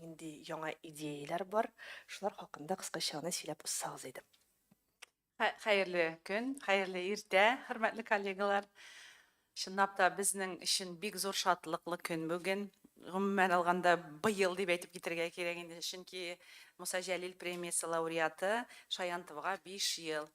нинди яңа идеяләр бар, шулар хакында кыскача гына сөйләп узсагыз иде. Хәерле көн, хәерле иртә, хөрмәтле коллегалар. Чынлап та безнең өчен бик зур шатлыклы көн бүген. Гомумән алганда быел дип әйтеп китергә кирәк инде, чөнки Муса Җәлил премиясе лауреаты Шаянтовга 5 ел.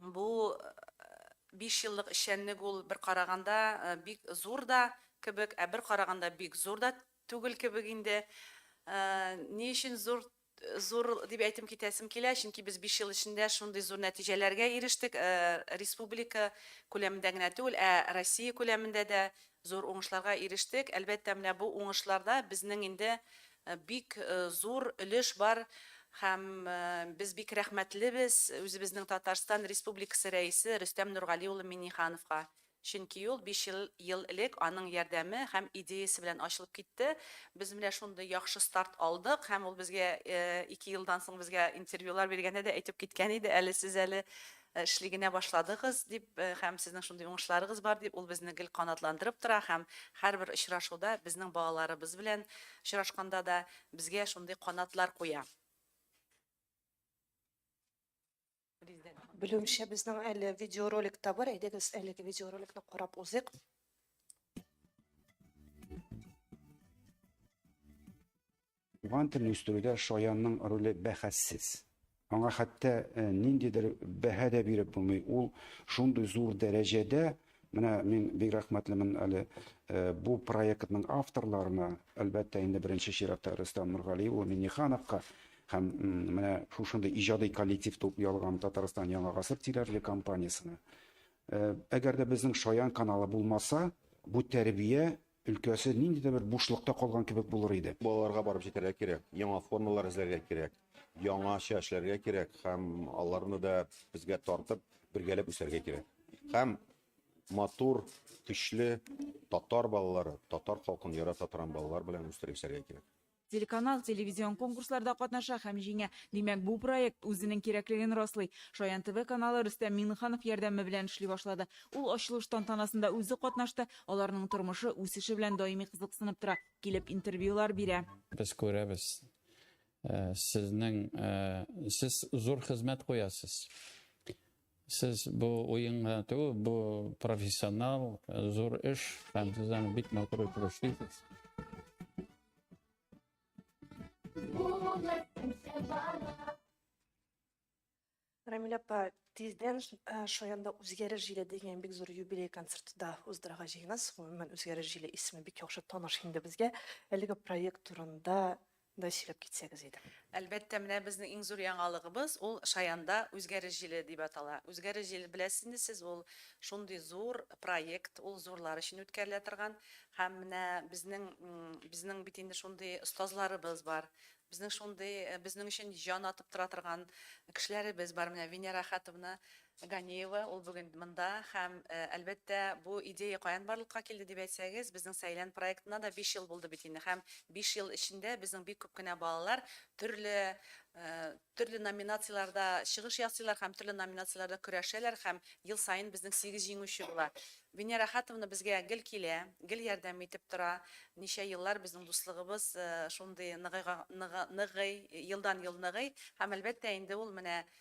Бу биш еллык эшчәнлек ул бер караганда бик зур да кебек, ә бер караганда бик зур да түгел кебек инде. Ни өчен зур зур дип әйтем китәсем килә, чөнки без биш ел эчендә шундый зур нәтиҗәләргә ирештек, республика күләмендә генә түгел, ә Россия күләмендә дә зур уңышларга ирештек. Әлбәттә, менә бу уңышларда безнең инде Бик зур өлеш бар һәм без бик рәхмәтлебез үзебезнең Татарстан Республикасы Рәисе Рөстәм Нургали улы Миңнехановка, чөнки ул биш ел элек аның ярдәме һәм идеясе белән ачылып китте. Без менә шундый яхшы старт алдык һәм ул безгә ике елдан соң безгә интервьюлар биргәндә дә әйтеп киткән иде, әле сез әле Эшли генә башладыгыз, дип һәм сезнең шундый уңышларыгыз бар, дип ул безне гел канатландырып тора һәм һәрбер очрашуда, безнең балаларыбыз белән очрашканда да безгә шундый канатлар куя. Белүемчә, безнең әле видеоролик та бар, әйдәгез, әлеге видеороликны карап узыйк. Туган телне үстерүдә шаянның роле бәхәссез. Аңа хәтта э, ниндидер бәһә дә биреп булмый. Ул шундый зур дәрәҗәдә, менә мин бик рәхмәтлемен әле э, бу проектның авторларына, әлбәттә, инде беренче чиратта Рөстәм Нургали улы Миннихановка һәм менә шушындый иҗади коллектив туп ялган Татарстан Яңа гасыр телевизле компаниясенә. Э, әгәр дә безнең шаян каналы булмаса, бу тәрбия өлкәсе нинди дә бер бушлыкта калган кебек булыр иде. Балаларга барып җитәргә кирәк, яңа формалар эзләргә кирәк, яңача эшләргә кирәк һәм аларны да безгә тартып, бергәләп үсәргә кирәк. Һәм матур, көчле татар балалары, татар халкын ярата торган балалар белән үстереп үсәргә кирәк. Телеканал телевизион конкурсларда катнаша һәм җиңә. Димәк, бу проект үзенең кирәклеген раслый. Шаян ТВ каналы Рөстәм Миңнеханов ярдәме белән эшли башлады. Ул ачылыш тантанасында үзе катнашты, аларның тормышы, үсеше белән даими кызыксынып тора, килеп интервьюлар бирә. Без күрәбез, сезнең, сез зур хезмәт куясыз. Сез бу уенга түгел, бу профессионал, зур эш, һәм сез аны бик матур итеп эшлисез. Рамиль апа, тиздән э, Шаянда үзгәреш җиле дигән бик зур юбилей концерты да уздырырга җыенасыз. Гомумән, үзгәреш җиле исеме бик яхшы таныш инде безгә. Әлеге проект турында да сөйләп китсәгез иде. Әлбәттә, менә безнең иң зур яңалыгыбыз, ул Шаянда Үзгәреш җиле дип атала. Үзгәреш җиле, беләсез инде сез, ул шундый зур проект, ул зурлар өчен үткәрелә торган. Һәм менә безнең, безнең бит инде шундый остазларыбыз бар, безнең шундый, безнең өчен җан атып тора торган кешеләребез бар, менә Венера Әхәтовна, Ганиева, ул бүген монда һәм, әлбәттә, бу идея каян барлыкка килде дип әйтсәгез, безнең Сәйлән проектына да биш ел булды бит инде һәм биш ел эчендә безнең бик күп кенә балалар төрле, төрле номинацияләрдә чыгыш ясыйлар һәм төрле номинацияләрдә көрәшәләр һәм ел саен безнең сигез җиңүче була. Венера Әхәтовна безгә гел килә, гел ярдәм итеп тора. Ничә еллар безнең дуслыгыбыз шундый ныгыйга, ныгы, ныгый, елдан-ел ныгый һәм, әлбәттә, инде ул менә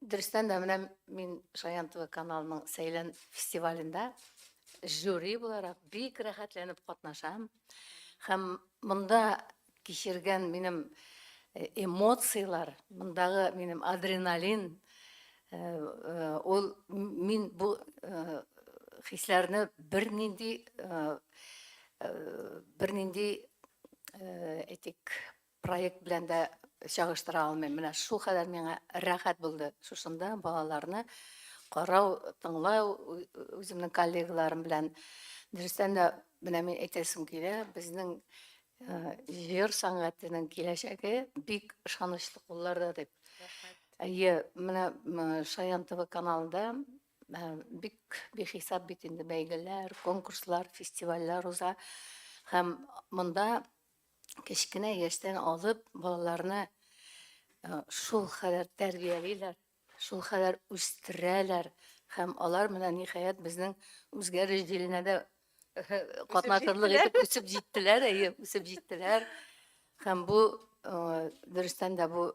Дөрестән дә менә мин Шаян ТВ каналының Сәйлән фестивалендә жюри буларак бик рәхәтләнеп катнашам. Һәм монда кичергән минем э, эмоцияләр, мондагы минем адреналин, э, э, ул мин бу хисләрне бернинди бернинди әйтик Проект белән дә чагыштыра алмыйм. Менә шул кадәр миңа рәхәт булды шушында балаларны карау, тыңлау үземнең коллегаларым белән. Дөрестән дә, менә мин әйтәсем килә, безнең җыр сәнгатенең киләчәге бик ышанычлы кулларда дип. Әйе, менә Шаян ТВ каналында бик бихисап бит инде бәйгеләр, конкурслар, фестивальләр уза. Һәм монда кечкенә яшьтән алып балаларны э, шул хәләр тәрбиялиләр, шул хәләр үстерәләр һәм алар менә ниһаять безнең үзгәреш җиленә дә катнашырлык итеп үсеп җиттеләр, әйе, үсеп җиттеләр. Һәм бу э, дөрестән дә бу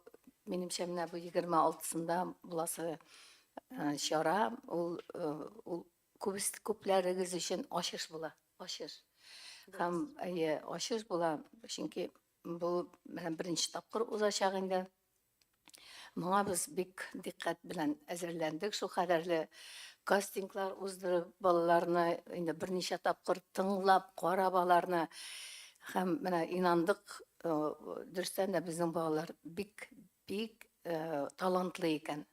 минемчә менә бу 26-сында буласы э, чара, ул э, ул Күбес, күпләрегез өчен ачыш була. Ачыш. Һәм, әйе, ачыш була, чөнки бу менә беренче тапкыр узачак инде. Моңа без бик дикъкать белән әзерләндек, шул кадәрле кастинглар уздырып, балаларны инде берничә тапкыр тыңлап, карап аларны һәм менә инандык, дөрестән дә безнең балалар бик, бик талантлы икән.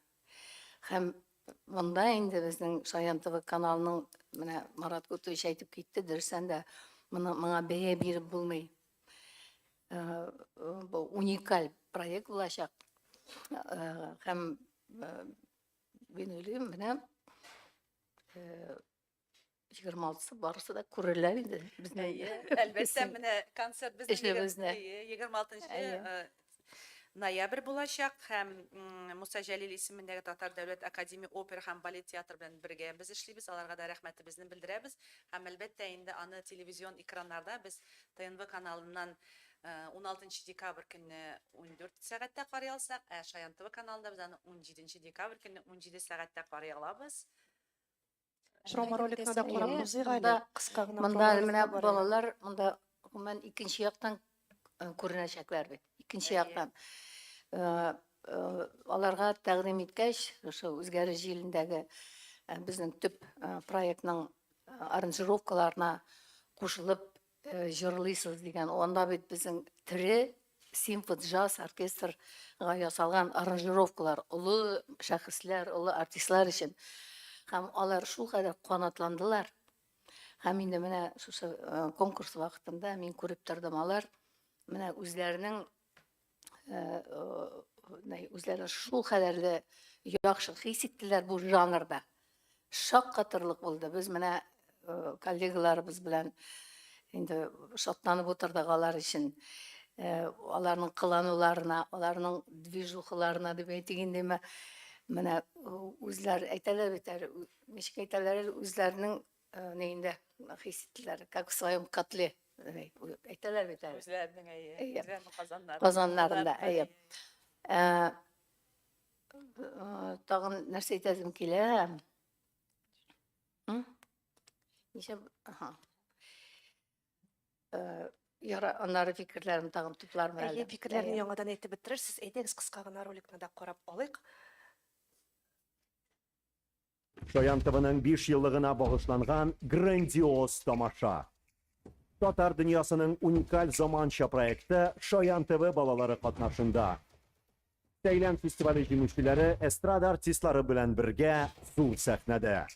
Һәм Монда инде безнең Шаян ТВ каналының менә Марат Кутович әйтеп китте, дөрестән дә моны моңа бәя биреп булмый. Э, бу уникаль проект булачак. Э, һәм э, мин уйлыйм, менә егерме алтысы барысы да күрерләр инде безнең әлбәттә менә концерт безнең егерме алтынчы ноябрь булачак һәм муса җәлил исемендәге татар дәүләт академия опера һәм балет театры белән бергә без эшлибез аларга да рәхмәтебезне белдерәбез һәм әлбәттә инде аны телевизион экраннарда без тнв каналыннан 16 декабрь көнне 14 сәгатьтә карый алсак ә шаян тв каналында без аны 17 декабрь көнне 17 сәгатьтә карый алабыз Промо-роликны да карап узыйк әле, кыска гына. Монда менә балалар, монда гомумән икенче яктан күренәчәкләр бит. Икенче яктан. Аларга тәкъдим иткәч, шушы Үзгәреш җилендәге безнең төп проектның аранжировкаларына кушылып, җырлыйсыз дигән, анда бит безнең тере симфо-джаз оркестрга ясалган аранжировкалар, олы шәхесләр, олы артистлар өчен. Һәм алар шулкадәр канатландылар. Һәм инде менә шушы конкурс вакытында мин күреп тордым, алар менә үзләренең үзләрен шул кадәрле яхшы хис иттеләр бу жанрда. Шаккатырлык булды. Без менә коллегаларыбыз белән инде шатланып утырдык алар өчен. Аларның кылануларына, аларның движухаларына дип әйтик индеме, менә үзләр әйтәләр бит әле, ничек әйтәләр әле, үзләренең Э, ни инде хис иттеләр, как в своем котле, э, әйтәләр бит әле. Үзләренең әйе, үзләренең казаннарында. Казаннарында, әйе. Э, тагын нәрсә әйтәсем килә? Ничә, аха. Яра, аннары фикерләрен тагын туплармын әле. Әйе, фикерләрне яңадан әйтеп бетерерсез. Әйдәгез, кыска гына роликны да карап алыйк. Чаян ТВның 5 еллыгына багышланган грандиоз тамаша. Татар дөньясының уникаль заманча проекты Чаян ТВ балалары катнашында. Сәйлән фестивале җиңүчеләре эстрада артистлары белән бергә зур сәхнәдә.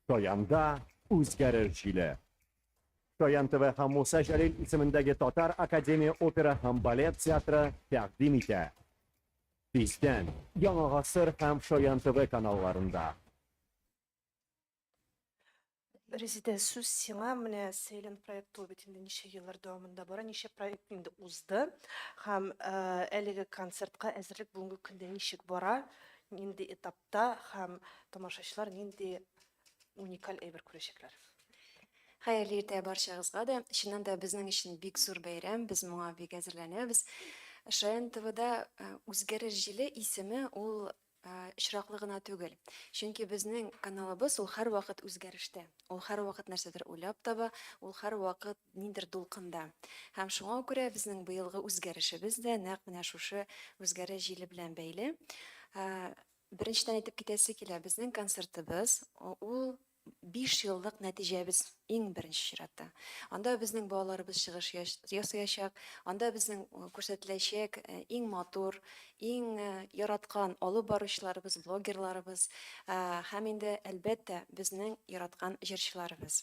Чаянда үзгәреш җиле. Чаян ТВ һәм Муса Җәлил исемендәге Татар академия опера һәм балет театры тәкъдим итә. Тиздән, Яңа Гасыр һәм Шаян ТВ каналларында. Резидә, сүз сиңа. Менә Сәйлән проекты ул бит инде ничә еллар дәвамында бара, ничә проект инде узды һәм әлеге концертка әзерлек бүгенге көндә ничек бара, нинди этапта һәм тамашачылар нинди Уникаль әйбер күрәчәкләр. Хәерле иртә барчагызга да. Чыннан да безнең өчен бик зур бәйрәм, без моңа бик әзерләнәбез. Шаян ТВда э, Үзгәреш җиле исеме ул очраклы гына түгел. Чөнки безнең каналыбыз ул һәрвакыт үзгәрештә. Ул һәрвакыт нәрсәдер уйлап таба, ул һәрвакыт ниндер дулкында. Һәм шуңа күрә безнең быелгы үзгәрешебез дә нәкъ менә шушы үзгәреш җиле белән бәйле. Беренчедән әйтеп китәсе килә, безнең концертыбыз ул биш еллык нәтиҗәбез иң беренче чиратта. Анда безнең балаларыбыз чыгыш ясаячак, анда безнең күрсәтеләчәк иң матур, иң яраткан алып баручыларыбыз, блогерларыбыз һәм инде, әлбәттә, безнең яраткан җырчыларыбыз.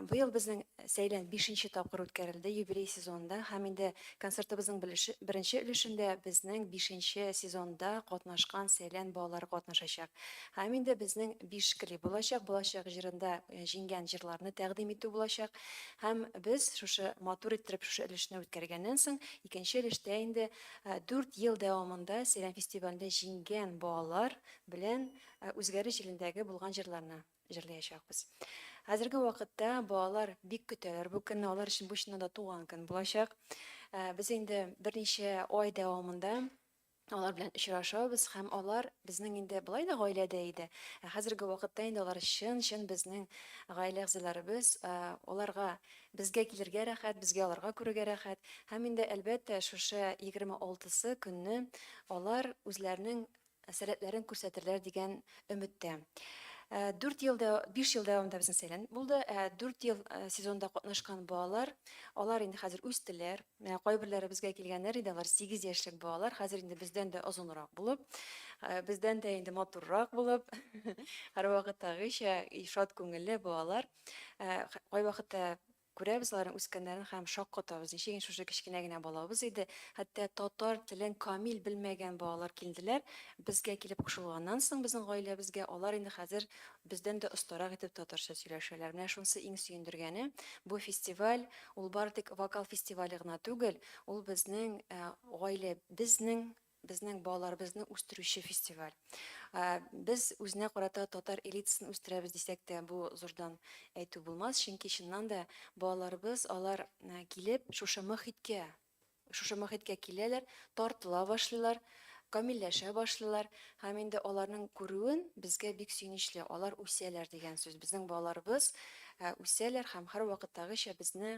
Быел безнең сәйлән бишенче тапкыр үткәрелде юбилей сезонында һәм инде концертыбызның беренче өлешендә безнең бишенче сезонда катнашкан сәйлән балалары катнашачак. Һәм инде безнең биш клип булачак, балачак җырында җиңгән җырларны тәкъдим итү булачак. Һәм без шушы матур иттереп шушы өлешне үткәргәннән соң, икенче өлештә инде дүрт ел дәвамында сәйлән фестивалендә җиңгән балалар белән үзгәреш җилендәге булган җырларны, җырлаячакбыз. Хәзерге вакытта балалар бик көтәләр бу көнне, алар өчен бу чыннан да туган көн булачак. Без инде берничә ай дәвамында алар белән очрашабыз һәм алар безнең инде болай да гаиләдә иде. Ә хәзерге вакытта инде алар чын-чын безнең гаилә әгъзаларыбыз, аларга безгә килергә рәхәт, безгә аларга күрергә рәхәт. Һәм инде әлбәттә шушы егерме алтысы көнне алар үзләренең сәләтләрен күрсәтерләр дигән өметтә. Дүрт ел, биш ел дәвамында безнең сәйләнеп булды. Дүрт ел сезонда катнашкан балалар, алар инде хәзер үстеләр. Менә кайберләре безгә килгәннәр иде, алар сигез яшьлек балалар, хәзер инде бездән дә озынрак булып, бездән дә инде матуррак булып, һәрвакыттагыча шат күңелле балалар. Кайвакытта Күрәбез аларның үскәннәрен һәм шаккатабыз, ничек инде шушы кечкенә генә балабыз иде, хәтта татар телен камил белмәгән балалар килделәр, безгә килеп кушылганнан соң безнең гаиләбезгә, алар инде хәзер бездән дә остарак итеп татарча сөйләшәләр. Менә шунысы иң сөендергәне, бу фестиваль, ул бары тик вокал фестивале гына түгел, ул безнең гаилә, безнең. безнең балаларыбызны үстерүче фестиваль. Без үзенә карата татар элитасын үстерәбез дисәк тә, бу зурдан әйтү булмас, чөнки чыннан да балаларыбыз, алар килеп, шушы мохиткә, шушы мохиткә киләләр, тартыла башлыйлар, камилләшә башлыйлар һәм инде аларның күрүен безгә бик сөенечле, алар үсәләр дигән сүз. Безнең балаларыбыз үсәләр һәм һәрвакыттагыча безне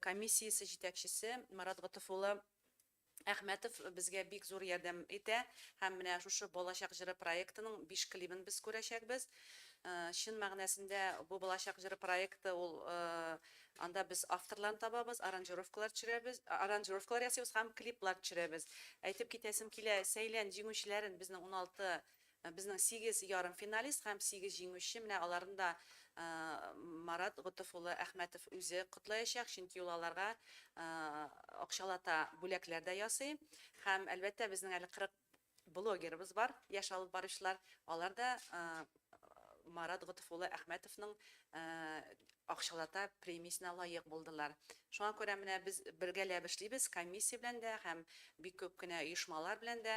Комиссиясе җитәкчесе Марат Готыф улы Әхмәтов безгә бик зур ярдәм итә һәм менә шушы Балачак җыры проектының биш клибын без күрәчәкбез. Чын мәгънәсендә бу Балачак җыры проекты ул анда без авторларны табабыз, аранжировкалар төшерәбез, аранжировкалар ясыйбыз һәм клиплар төшерәбез. Әйтеп китәсем килә, сәйлән җиңүчеләрен безнең уналты Безнең сигез ярымфиналист һәм сигез җиңүче, менә аларны да Марат Готыф улы Әхмәтов үзе котлаячак, чөнки ул аларга акчалата бүләкләр дә ясый. Һәм, әлбәттә, безнең әле 40 блогерыбыз бар, яшь алып баручылар, алар да Марат Готыф улы Әхмәтовның акчалата премиясенә лаек булдылар. Шуңа күрә менә без бергәләп эшлибез, комиссия белән дә һәм бик күп кенә оешмалар белән дә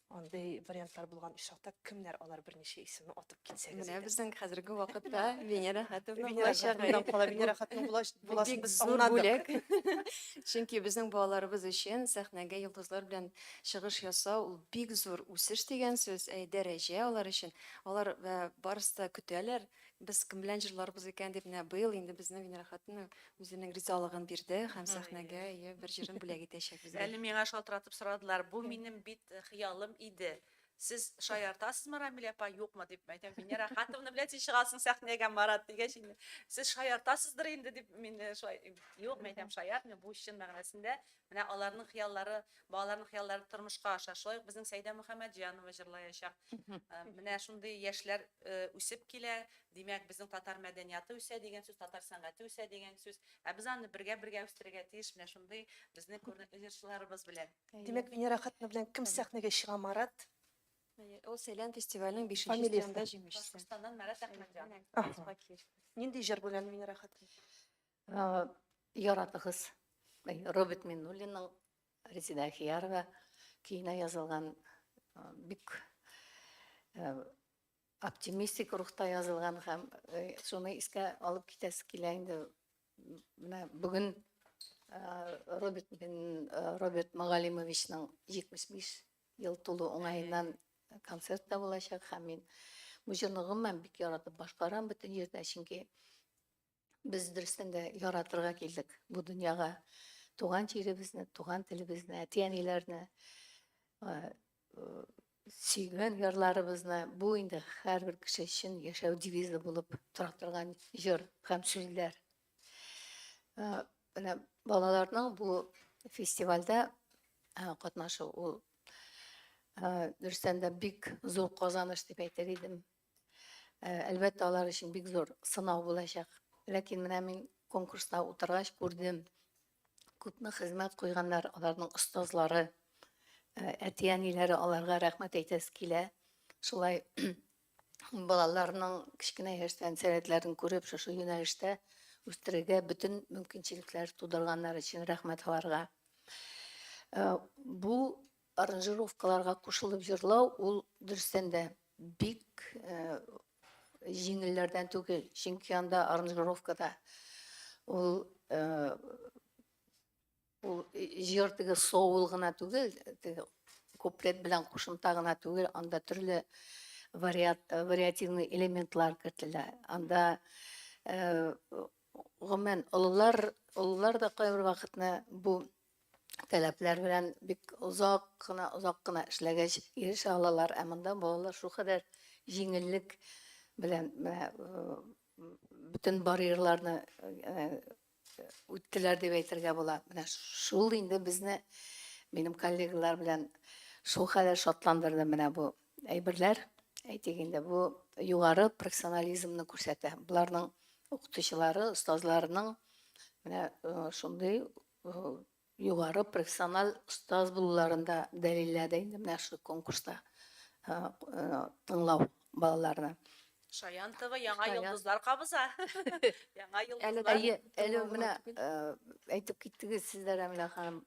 Андый вариантлар булган очракта кемнәр алар берничә исемне атып китсәгез Менә иде. безнең хәзерге вакытта Венера Хәтовна Венера булачак. Хатыннан кала, Венера Хатынның булач- буласын Бик без зур аңладык. бүләк. Чөнки безнең балаларыбыз өчен сәхнәгә йолдызлар белән чыгыш ясау ул бик зур үсеш дигән сүз, ә дәрәҗә алар өчен. Алар э, барысы да көтәләр. Без кем белән җырларбыз икән дип менә быел инде безне Венера хатыны үзенең ризалыгын бирде һәм сәхнәгә ие бер җырын бүләк итәчәк безгә. Әле миңа шалтыратып сорадылар, бу минем бит хыялым иде. Сез шаяртасызмы, Рамилә апа, юкмы дип. Әйтәм, Венера Ахатовна белән син чыгасың сәхнәгә, Марат, дигәч инде, сез шаяртасыздыр инде дип, мин шулай, юк, мин әйтәм, шаяртмыйм, бу чын мәгънәсендә Менә аларның хыяллары, балаларның хыяллары тормышка аша. Шулай ук безнең Сәйдә Мөхәммәтҗанова җырлаячак. Менә шундый яшьләр үсеп килә. Димәк, безнең татар мәдәнияты үсә дигән сүз, татар сәнгате үсә дигән сүз. Ә без аны бергә-бергә үстерергә тиеш менә шундый безнең күренекле җырчыларыбыз белән. Димәк, Венера хатыны белән кем сәхнәгә чыга, Марат? Ул Сәйлән фестиваленең бишенче стендында җиңүчесе. Башкортстаннан Марат Әхмәтҗанов. Нинди җыр белән, Венера хатын? Яратыгыз Роберт Миннуллинның Резеда Ахиярова көенә язылган бик оптимистик рухта язылган һәм шуны искә алып китәсе килә инде. Менә бүген Роберт Роберт Магалимовичның 75 ел тулу уңаеннан концерт та булачак һәм мин бу җырны гомумән бик яратып башкарам бөтен җирдә, чөнки Без дөрестән дә яратырга килдек бу дөньяга. Туган җиребезне, туган телебезне, әти-әниләрне, сөйгән ярларыбызны бу инде һәрбер кеше өчен яшәү девизы булып тора торган җыр һәм сүзләр. Менә балаларның бу фестивальдә катнашу ул дөрестән дә бик зур казаныш дип әйтер идем. Әлбәттә, алар өчен бик зур сынау булачак. Ләкин менә мин конкурста утыргач күрдем, күпме хезмәт куйганнар аларның остазлары, әти-әниләре, аларга рәхмәт әйтәсе килә. Шулай балаларның кечкенә яшьтән сәләтләрен күреп, шушы юнәлештә үстерергә бөтен мөмкинчелекләр тудырганнар өчен рәхмәт аларга. Бу Аранжировкаларга кушылып җырлау ул дөрестән дә бик җиңелләрдән түгел, чөнки анда аранжировкада ул ул җыр теге соул гына түгел, теге куплет белән кушымта гына түгел, анда төрле вариат, вариативный элементлар кертелә. Анда гомумән олылар, олылар да кайбер вакытны бу таләпләр белән бик озак кына, озак кына эшләгәч ирешә алалар. Ә монда балалар шулкадәр җиңеллек белән менә бөтен барьерларны үттеләр дип әйтергә була. Менә шул инде безне минем коллегалар белән шулкадәр шатландырды менә бу әйберләр. Әйтик инде бу югары профессионализмны күрсәтә. Боларның укытучылары, остазларының менә шундый югары профессиональ остаз булуларын да дәлилләде инде менә шул конкурста тыңлау балаларны. Шаян ТВ яңа йолдызлар кабыза. Яңа йолдызлар. Әле әле менә әйтеп киттегез сез дә Рәмилә ханым.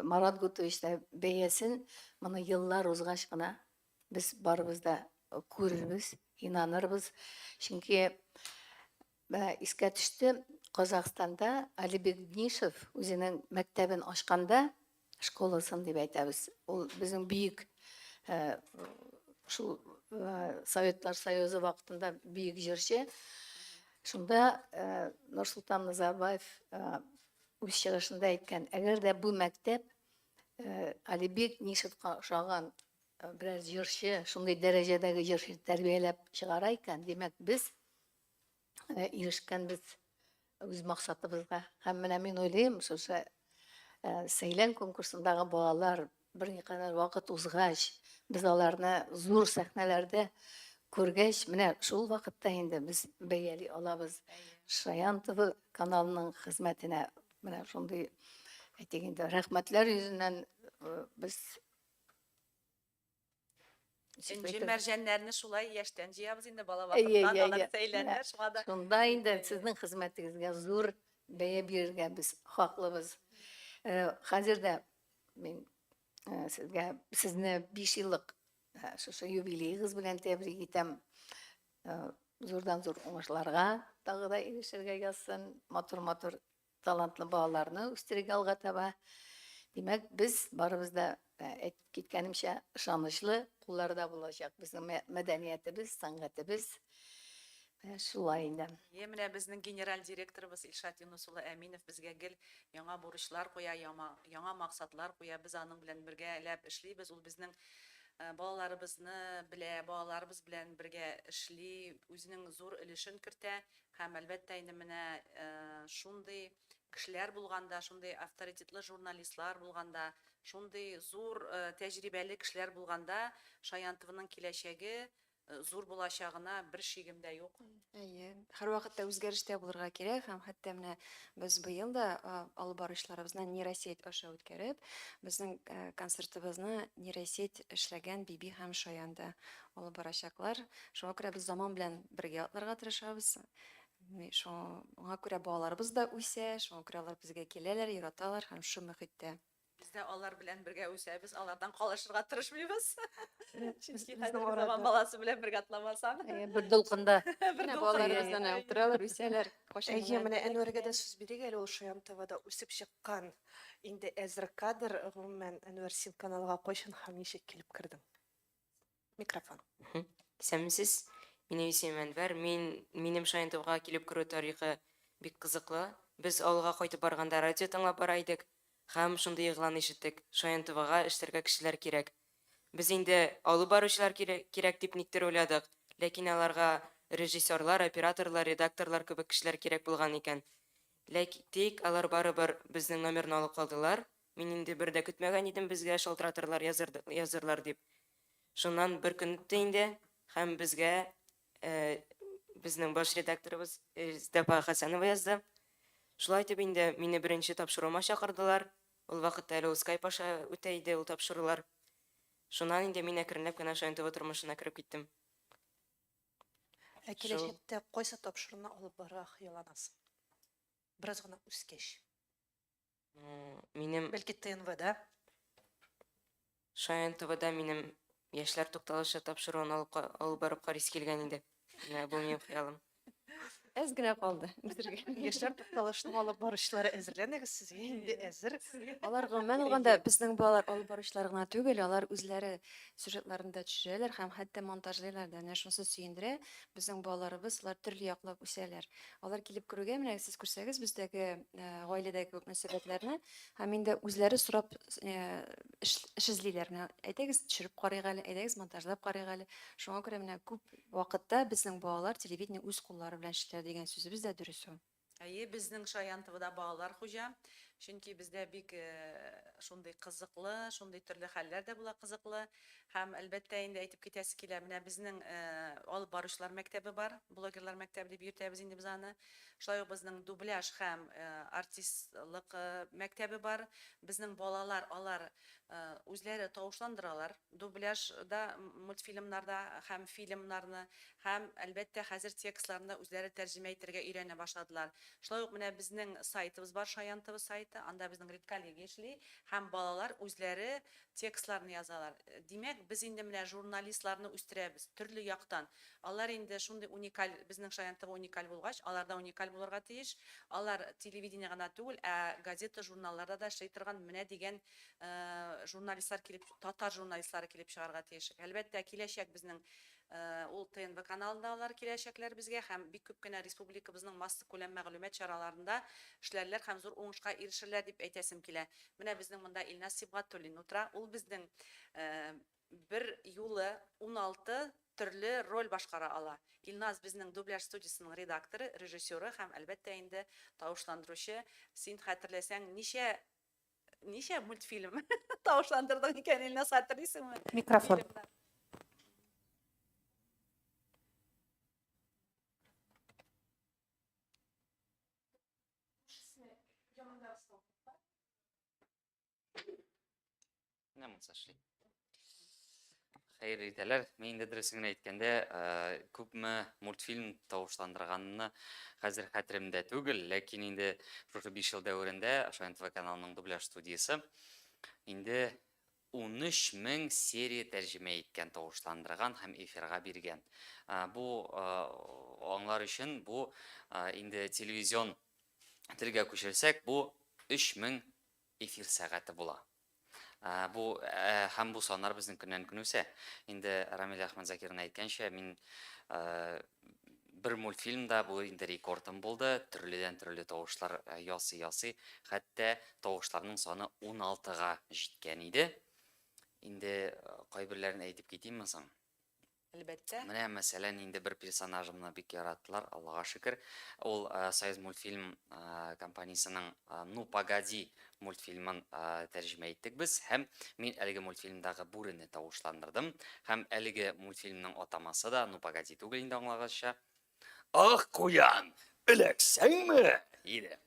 Марат Гутович та бәясен моны еллар узгач кына без барыбыз да күрербез, инанырбыз. Чөнки Менә искә төште, Казахстанда Али Бекднишев үзенең мәктәбен ачканда, школасын дип әйтәбез, ул безнең бөек шул Советлар Союзы вакытында бөек җырчы. Шунда Нурсултан Назарбаев үз чыгышында әйткән, әгәр дә бу мәктәп Алибек Нишевка ошаган берәр җырчы, шундый дәрәҗәдәге җырчы тәрбияләп чыгара икән, димәк, без Менә ирешкәнбез үз максатыбызга. Һәм менә мин уйлыйм, шушы сәйлән конкурсындагы балалар бер никадәр вакыт узгач, без аларны зур сәхнәләрдә күргәч, менә шул вакытта инде без бәяли алабыз. Шаян ТВ каналының хезмәтенә менә шундый әйтик инде рәхмәтләр йөзеннән без Энҗе мәрҗәннәрне шулай яшьтән җыябыз инде бала вакыттан, алар бит әйләнә, шуңа да. Шунда инде сезнең хезмәтегезгә зур бәя бирергә без хаклыбыз. Хәзер дә мин сезгә сезне 5 еллык шушы юбилеегыз белән тәбрик итәм. Зурдан-зур уңышларга тагы да ирешергә язсын, матур-матур Талантлы балаларны үстерергә алга таба. Димәк, без барыбыз да әйтеп киткәнемчә ышанычлы кулларда булачак безнең мәдәниятебез, сәнгатебез. Шулай инде. Е, менә безнең генераль директорыбыз Илшат Юныс улы Әминов безгә гел яңа бурычлар куя, яма, яңа максатлар куя. Без аның белән бергәләп эшлибез. Ул безнең балаларыбызны белә, балаларыбыз белән бергә эшли, үзенең зур өлешен кертә. Һәм, әлбәттә, инде менә шундый кешеләр булганда, шундый авторитетлы журналистлар булганда, шундый зур тәҗрибәле кешеләр булганда, Шаян ТВның киләчәге зур булачагына бер шигем дә юк. Әйе, һәрвакытта үзгәрештә булырга кирәк һәм хәтта менә без быел да алып баручыларыбызны нейросеть аша үткәреп, безнең концертыбызны нейросеть эшләгән Биби һәм Шаян да алып барачаклар. Шуңа күрә без заман белән бергә атларга тырышабыз. Шуңа күрә балаларыбыз да үсә, шуңа күрә алар безгә киләләр, яраталар һәм шул мөхиттә. Без дә алар белән бергә үсәбез, алардан калышырга тырышмыйбыз. Чөнки хәзерге заман баласы белән бергә атламасаң. Бер дулкында. Бер балаларыбыздан да утыралар, үсәләр. Әйе, менә Әнвәргә дә сүз бирик әле, ул Шаян ТВда үсеп чыккан. Инде әзер кадр, гомумән, Әнвәр, син каналга кайчан һәм ничек килеп кердең? Микрофон. Исәнмесез. Минем исемем Әнвәр. Мин минем Шаянтовга килеп керү тарихы бик кызыклы. Без авылга кайтып барганда радио тыңлап бара идек һәм шундый игълан ишеттек, Шаянтовага эшләргә кешеләр кирәк. Без инде алып баручылар кирәк дип никтер уйладык, ләкин аларга режиссерлар, операторлар, редакторлар кебек кешеләр кирәк булган икән. Ләк тик алар барыбер безнең номерны алып калдылар. Мин инде бер дә көтмәгән идем безгә шалтыратырлар, язырлар дип. Шуннан бер көн үтте инде һәм безгә безнең баш редакторыбыз Зәфа Хәсәнова язды. Шулай итеп инде мине беренче тапшыруыма чакырдылар. Ул вакытта әле ул скайп аша үтә иде ул тапшырулар. Шуннан инде мин әкренләп кенә Шаян ТВ тормышына кереп киттем. Ә киләчәктә кайсы тапшыруны алып барырга хыялланасың? Бераз гына үскәч. Э, минем Бәлки ТНВда. Шаян ТВда минем яшьләр тукталышы тапшыруын алып, алып барып карыйсы килгән иде. Менә бу минем хыялым. Әз генә калды. Яшьләр тукталышының алып барышлары әзерләнегез сезгә инде әзер. Алар гомумән алганда безнең балалар алып баручылар гына түгел, алар үзләре сюжетларында төшерәләр һәм хәтта монтажлыйлар да. Менә шунысы сөендерә, безнең балаларыбыз алар төрле яклап үсәләр. Алар килеп керүгә, менә сез күрсәгез бездәге э, гаиләдәге кебек мөнәсәбәтләрне, һәм инде үзләре сорап э, эш, эш эзлиләр. Менә әйдәгез, төшереп карыйк әле, әйдәгез, монтажлап карыйк әле. Шуңа күрә менә күп вакытта безнең балалар телевидение үз куллары белән эшләр дигән сүзебез дә дөрес ул. Әйе, безнең Шаян ТВда балалар хуҗа. Чөнки бездә бик э, шундый кызыклы, шундый төрле хәлләр дә була кызыклы. Һәм, әлбәттә, инде әйтеп китәсе килә, менә безнең алып баручылар мәктәбе бар, блогерлар мәктәбе дип йөртәбез инде без аны. Шулай ук безнең дубляж һәм артистлык мәктәбе бар. Безнең балалар алар үзләре тавышландыралар дубляжда, мультфильмнарда һәм фильмнарны. Һәм, әлбәттә, хәзер текстларны да үзләре тәрҗемә итәргә өйрәнә башладылар. Шулай ук менә безнең сайтыбыз бар, Шаян тв сайты, анда безнең редколлегия эшли һәм балалар үзләре текстларны язалар. Димәк, без инде менә журналистларны үстерәбез, төрле яктан. Алар инде шундый уникаль, безнең Шаян ТВ уникаль булгач, алар да уникаль булырга тиеш. Алар телевидение гына түгел, ә газета-журналларда да эшли торган менә дигән журналистлар килеп, татар журналистлары килеп чыгарга тиеш. Әлбәттә, киләчәк безнең Ул ТНВ каналында алар киләчәкләр безгә һәм бик күп кенә республикабызның массакүләм мәгълүмат чараларында эшләрләр һәм зур уңышка ирешерләр дип әйтәсем килә. Менә безнең монда Илназ Сибгатуллин утыра. Ул безнең бер юлы уналты төрле роль башкара ала. Илназ безнең дубляж студиясенең редакторы, режиссеры һәм, әлбәттә инде, тавышландыручы. Син хәтерләсәң, ничә Ничә мультфильм? Тавышландырдың икән, Илназ, хәтерлисеңме? Микрофон. Фильмнар. Менә монсы эшли. Хәерле иртәләр. Мин инде дөресен генә әйткәндә, күпме мультфильм тавышландырганны хәзер хәтеремдә түгел, ләкин инде шушы 5 ел дәверендә ошо НТВ каналының дубляж студиясе инде 13 мең серия тәрҗемә иткән, тавышландырган һәм эфирга биргән. Бу аңлар өчен бу инде телевизион телгә күчерсәк, бу 3000 Эфир сәгате була. Бу һәм бу саннар безнең көннән көн үсә. Инде Рамиль Әхмәтзакирның әйткәнчә, мин бер мультфильмда бу инде рекордым булды, төрледән төрле тавышлар ясый ясый, хәтта тавышларның саны 16 га җиткән иде. Инде кайберләрен әйтеп китимме соң? Әлбәттә. Менә, мәсәлән, инде бер персонажымны бик яраттылар, Аллага шөкер. Ул Союзмультфильм компаниясенең Ну, погоди! мультфильмын тәрҗемә иттек без һәм мин әлеге мультфильмдагы бүрене тавышландырдым. Һәм әлеге мультфильмның атамасы да Ну, погоди! түгел инде, аңлагызча. Ах, куян, эләксәңме? диде.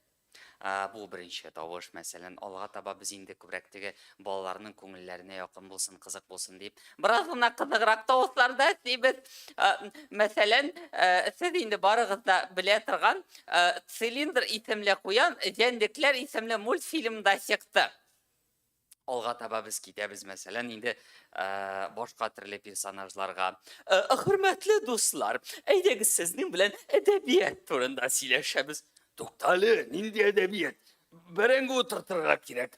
Ә, бу беренче тавыш, мәсәлән, алга таба без инде күбрәк теге балаларның күңелләренә якын булсын, кызык булсын дип, бераз гына кызыграк тавышларда сибез. Ә, мәсәлән, ә, сез инде барыгыз да белә торган ә, Цилиндр исемле куян Җәнлекләр исемле мультфильмда чыкты. алга таба без китәбез мәсәлән инде башка төрле персонажларга хөрмәтле дуслар әйдәгез сезнең белән әдәбият турында сөйләшәбез туктале нинди әдәбият бәрәңге утыртырга кирәк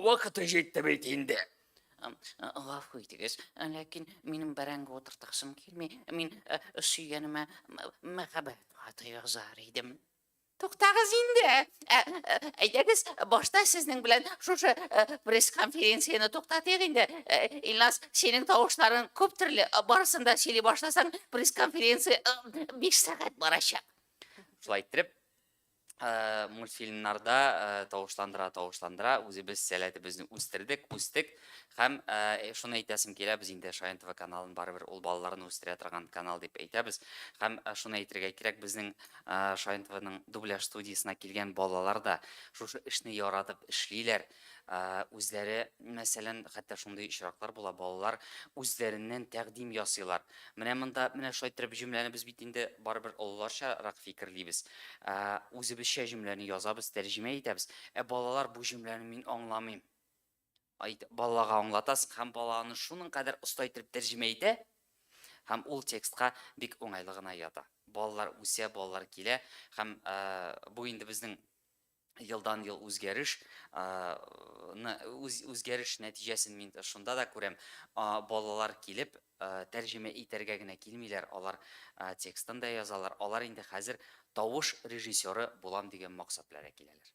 вакыты җитте бит инде гафу итегез ләкин минем бәрәңге утыртасым килми мин сөйгәнемә мәхәббәт хаты язар идем Туктагыз инде. Әйдәгез, башта сезнең белән шушы пресс-конференцияне туктатыйк инде. Илназ, синең тавышларың күп төрле. Барысын да сөйли башласаң, пресс-конференция 5 сәгать барачак. Шулай итеп, мультфильмнарда тавышландыра, тавышландыра үзебез сәләтебезне үстердек, үстек һәм шуны әйтәсем килә, без инде Шаян ТВ каналын барыбер ул балаларны үстерә торган канал дип әйтәбез. Һәм шуны әйтергә кирәк, безнең Шаин ТВның дубляж студиясенә килгән балалар да шушы эшне яратып эшлиләр. Үзләре, мәсәлән, хәтта шундый очраклар була, балалар үзләреннән тәкъдим ясыйлар. Менә монда, менә шулай иттереп җөмләне без бит инде барыбер олыларчарак фикерлибез. Үзебезчә җөмләне язабыз, тәрҗемә итәбез. Ә балалар бу җөмләне мин аңламыйм. Айт, балага аңлатасың һәм бала аны шуның кадәр оста итеп тәрҗемә итә, һәм ул текстка бик уңайлы гына ята. Балалар үсә, балалар килә һәм ә, бу инде безнең елдан ел үзгәреш үз, үзгәреш нәтиҗәсен мин шунда да күрәм. Балалар килеп тәрҗемә итәргә генә килмиләр, алар текстын да язалар. Алар инде хәзер тавыш режиссеры булам дигән максат белән киләләр.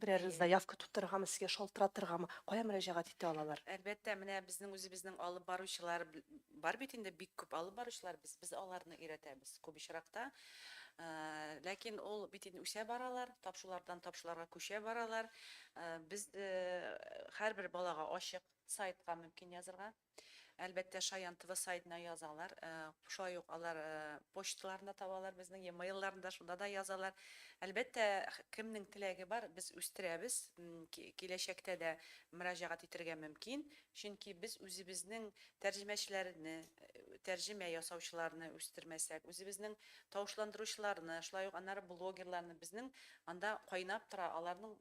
берәрегез заявка тутырыргамы, сезгә шалтыратыргамы, кая мөрәҗәгать итә алалар? Әлбәттә, менә безнең үзебезнең алып баручылар бар бит инде, бик күп алып баручылар, без, без аларны өйрәтәбез күп очракта. Ләкин ул бит инде үсә баралар, тапшулардан тапшуларга күчә баралар. Без һәрбер балага ачык, сайтка мөмкин язырга. Әлбәттә, Шаян тв сайтына язалар. Шулай ук алар почталарын да табалар безнең, e-mail-ларын да, шунда да язалар. Әлбәттә, кемнең теләге бар, без үстерәбез. Киләчәктә дә мөрәҗәгать итергә мөмкин. Чөнки без үзебезнең тәрҗемәчеләрне, тәрҗемә ясаучыларны үстермәсәк, үзебезнең тавышландыручыларны, шулай ук аннары блогерларны, безнең анда кайнап тора, аларның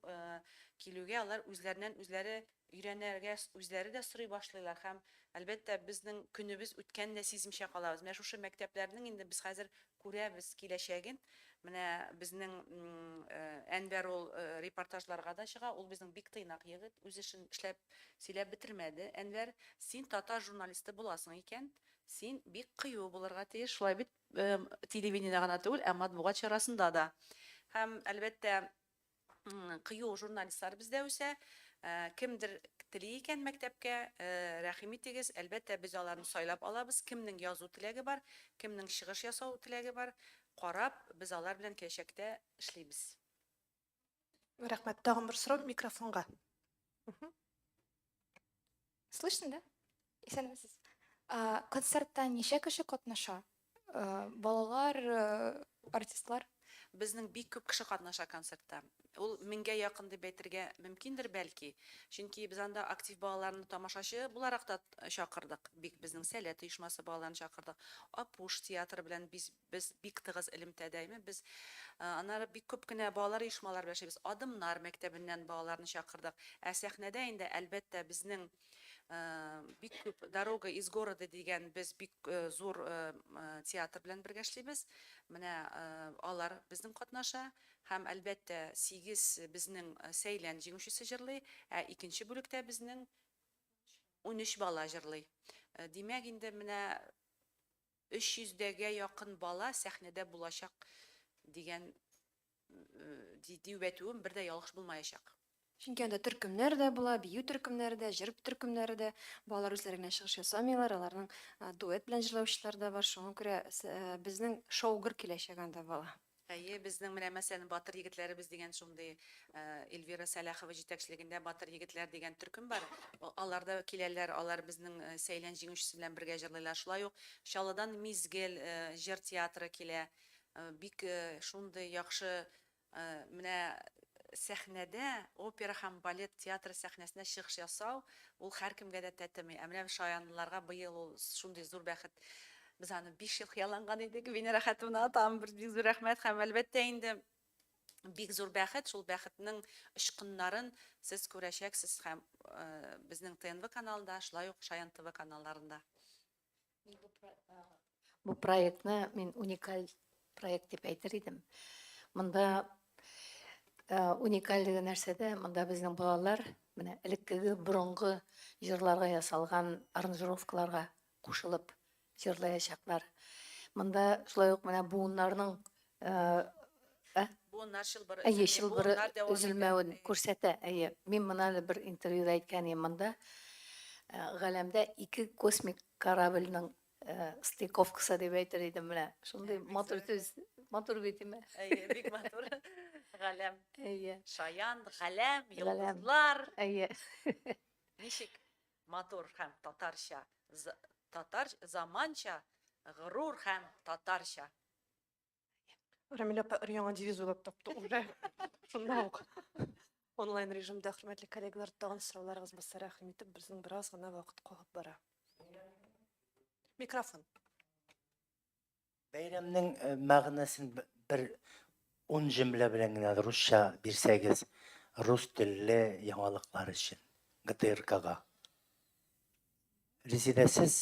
килүгә алар үзләреннән-үзләре Өйрәнергәс, үзләре дә сорый башлыйлар һәм, әлбәттә, безнең көнебез үткәнен дә сизмичә калабыз. Менә шушы мәктәпләрнең инде без хәзер күрәбез киләчәген. Менә безнең Әнвәр ул репортажларга да чыга, ул безнең бик тыйнак егет, үз эшен эшләп, сөйләп бетермәде. Әнвәр, син татар журналисты буласың икән, син бик кыю булырга тиеш, шулай бит, телевидениедә генә түгел, ә матбугат чарасында да. Һәм, әлбәттә, Кыю журналистлар бездә үсә. Кемдер тели икән мәктәпкә, рәхим итегез, әлбәттә, без аларны сайлап алабыз. Кемнең язу теләге бар, кемнең чыгыш ясау теләге бар, карап, без алар белән киләчәктә эшлибез. Рәхмәт. Тагын бер сорау микрофонга. Слышно, да? Исәнмесез. Концертта ничә кеше катнаша? Балалар, артистлар? Безнең бик күп кеше катнаша концертта. Ул меңгә якын дип әйтергә мөмкиндер, бәлки. Чөнки без анда актив балаларны тамашачы буларак та чакырдык. Бик безнең Сәләт оешмасы балаларын чакырдык. Апуш театры белән без Без бик тыгыз элемтәдәйме без. Аннары бик күп кенә балалар оешмалары белән эшлибез. Адымнар мәктәбеннән балаларны чакырдык. Ә сәхнәдә инде, әлбәттә, безнең бик күп Дорога из города дигән без бик зур театр белән бергә эшлибез. Менә алар безнең катнаша. Һәм, әлбәттә, сигез безнең Сәйлән җиңүчесе җырлый, ә икенче бүлектә безнең унөч бала җырлый. Димәк, инде менә 300 дәгә якын бала сәхнәдә булачак дигән дию әтүем бер дә ялгыш булмаячак. Чөнки анда төркемнәр дә була, бию төркемнәре дә, җыр төркемнәре дә. Балалар үзләре генә чыгыш ясамыйлар, аларның дуэт белән җырлаучылары да бар. Шуңа күрә безнең шоугыр киләчәге анда бала. Әйе, безнең менә мәсәлән Батыр егетләребез дигән шундый Эльвира Сәлахова җитәкчелегендә Батыр егетләр дигән төркем бар. Алар да киләләр, алар безнең Сәйлән җиңүчесе белән бергә җырлыйлар. Шулай ук Чаллыдан Мизгел җыр театры килә. Бик шундый яхшы менә сәхнәдә опера һәм балет театры сәхнәсенә чыгыш ясау, ул һәркемгә дә тәтеми. Ә менә шаянлыларга быел ул шундый зур бәхет Без аны биш ел хыялланган идек. Венера хатуна, тагын бер бик зур рәхмәт һәм әлбәттә инде бик зур бәхет, шул бәхетнең очкыннарын сез күрәчәксез һәм э, безнең ТНВ каналында, шулай ук Шаян ТВ каналларында. Бу проектны мин уникаль проект дип әйтер идем. Монда э, уникальлеге нәрсәдә? Монда безнең балалар менә элеккеге борынгы җырларга ясалган аранжировкаларга кушылып җырлаячаклар. Монда шулай ук менә буыннарның ә? Буыннар чылбыры. Әйе, чылбыры өзелмәвен күрсәтә. Әйе, мин моны әле бер интервьюда әйткән идем. Монда галәмдә ике космик корабльнең стыковкасы дип әйтер идем менә. Шундый матур сүз. Матур бит, әйеме? Әйе, бик матур. Галәм. Әйе. Шаян, галәм, йолдызлар. Әйе. Ничек? Матур һәм татарча за татар заманча горур һәм татарча. Рамилә апа өр-яңа девиз уйлап тапты уже. Шунда ук. Онлайн режимда хөрмәтле коллегалар тагын сорауларыгыз булса рәхим итеп безнең бераз гына вакыт калып бара. Микрофон. Бәйрәмнең мәгънәсен бер ун җөмлә белән генә русча бирсәгез, рус телле яңалыклар өчен ГТРКга. Резидә, сез?